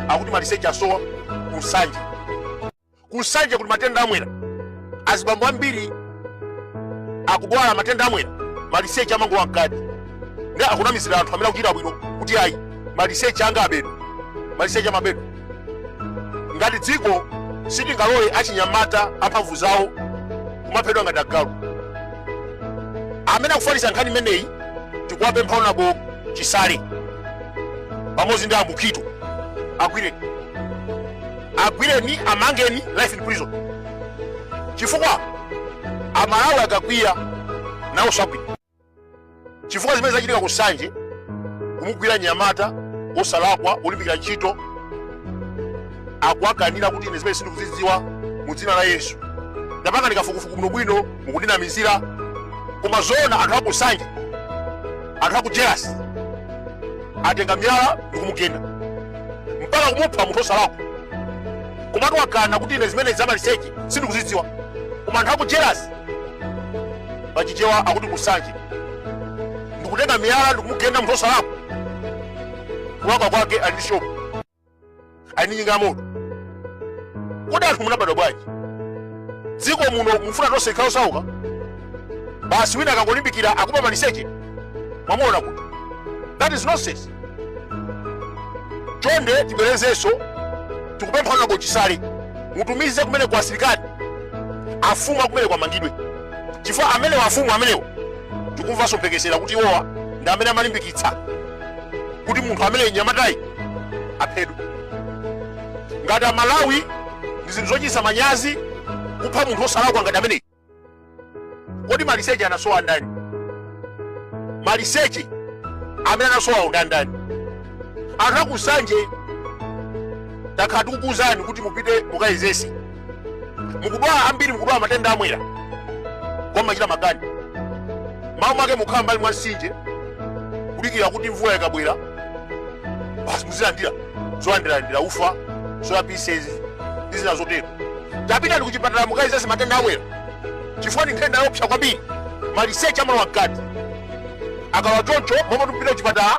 akuti maliseche asowa kunsanje kunsanje kuti matenda amwera azibambo ambiri akudwala matenda amwera maliseche amangolowa mkati ndi akunamizira anthu amene akuchita bwino kuti ayi maliseche anga abedwa maliseche amabedwa ngati dziko sitingalole achinyamata amphamvu zawo kumaphedwa ngati agalu amene akufalitsa nkhani imeneyi tikuwapempha honourable chisale pamodzi ndi a mukhito agwireni agwireni amangeni life in prison chifukwa amalawi akakwiya nawo sakwiya chifukwa zimene zachitika ku nsanje kumugwira mnyamata osalakwa olimbikira ntchito akuwakanira kuti ine zimene sindikuzidziwa mu dzina la yesu tapangani kafukufuku bwinobwino mukundinamizira koma zoona anthu akunsanje anthu akujerasi atenga miyala ndikumugenda mpaka kumupha munthu osalakwa komatu wakana kuti ine zimene zamaliseche sindikuzidziwa koma anthu akujerasi pachichewa akuti kunsanje ndikutenga miyala ndikumugenda munthu osalakwa kulakwa kwake ali ndi shopu ali ndi njinga ya moto kodi anthu munabadwa bwanji dziko muno mufuna tonse tikhale osauka basi wina akangolimbikira akuba maliseche mwamuona kuti that is nonsense chonde tibwerezenso tikupempha honourable chisale mutumize kumeneko asilikali afumu akumeneko amangidwe chifukwa amenewo afumu amenewo tikumvanso mphekesera kuti iwowa ndi amene amalimbikitsa kuti munthu ameneyi mnyamatayi aphedwe ngati amalawi ndi zinthu zochititsa manyazi kupha munthu osalakwa ngati ameneyi kodi maliseche anasowa ndani maliseche amene anasowawo ndandani anthu akunsanje takhala tikukuuzani kuti mupite mukayezetse mukudwala ambiri mukudwala matenda amwera koma mmachita makani mmalo mwake mukhala mbali mwa mtsinje kudikira kuti mvula ikabwera basi muzilandira zolandirandira ufa soya pieces ndi zina zotero tapitani kuchipatala mukayezetse matenda amwera chifukwa ndi nthenda yoopsa kwambiri maliseche amalowa mkati akalowa choncho mmalo moti mupite kuchipatala